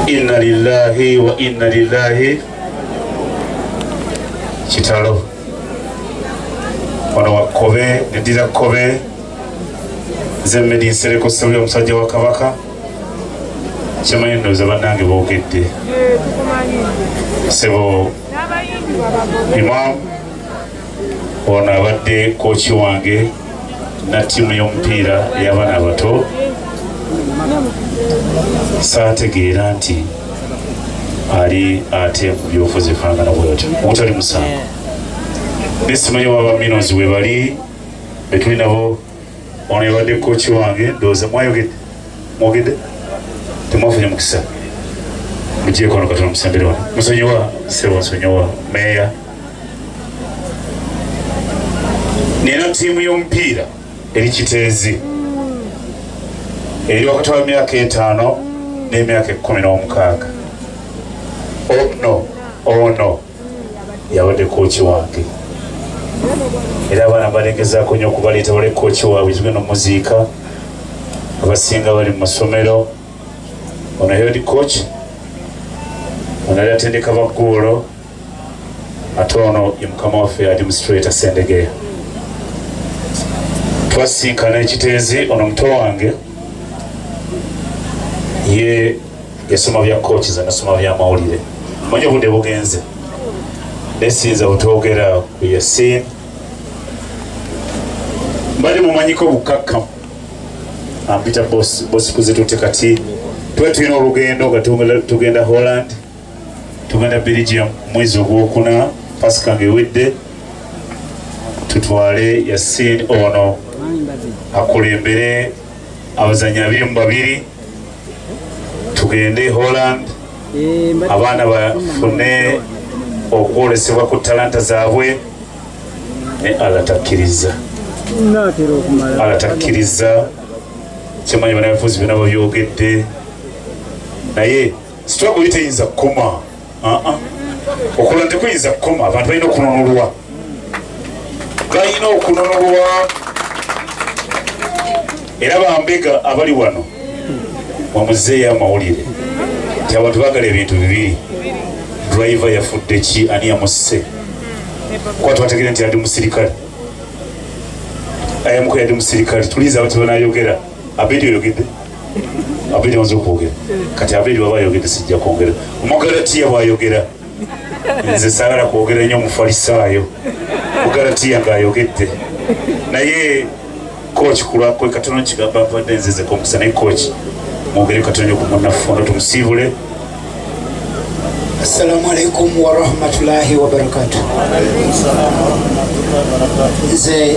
Inna lillahi wa inna lillahi kitalo wano wakkobe neddira kkobe nze mmedi nsereko sebuli omusajja wa kabaka kyemanyi ndoza bannange boogedde sebo imam ono abadde kooki wange na ttiimu y'omupiira ey'abaana abato saategeera nti ali ate mu byobufuzi efaanana bwetyo omutali musango nesimanyi waba minos webali betuli nabo ono yabadde kooki wange ndowooza mwayogedde mwogedde temwafunye mukisa mugyeko ono katonda musembere wano musonyiwa sebo nsonyiwa meeya nina ttiimu y'omupiira eri kiteezi eri wakati wa myaka etaano n'emyaka ekkumi n'omukaaga ono oh, oh, ono yabadde kooki wange era abaana balegezaako nyo okubaleeta bale kooki waabwe kibe nomuziika abasinga bali mu masomero ono head coach ono ali atendeka bagguulo ate ono ye mukama waffe administrator sendegeya twasinkana ekiteezi ono muto wange ye esoma bya kooki ze nasoma byamawulire manya obudde bugenze nesinza butwogera ku yasin mbadde mumanyiko obukakkamu ampita bosi kuzitute kati tuba tulina olugendo nga tugenda holland tugenda belgium mwezi ogwokuna pasika nga ewedde tutwale yasin ono akulembere abazanyi abiri mu babiri tugende Holland eh, abaana bafune okwolesebwa ku talanta zaabwe ne alatakkiriza alatakkiriza kyemanyi banabufuzi byona babyogedde naye sitwagoli teyinza kukoma okulala tekuyinza kukoma abantu balina okununulwa balina okununulwa era bambega abali wano mwamuzeeyo amawulire nti abantu bagala ebintu bibiri driver yafudde ki ani yamusse kuba twategere nti adi musirikale ayamuko yadi musirikale tuliza abati banayogera abedi oyogedde abiri maze okwogera kati abiri baba ayogedde sijja kwongera omugalatiya bwayogera nze sagala kwogera nnyo omufalisaayo mugalatiya ng'ayogedde naye koki kulwakwe katono kigamba mbadde nzize komusa naye koki mwogere katono nyo ku munafundo tumusiibule assalamu alaikum warahmatullahi wabarakatu nze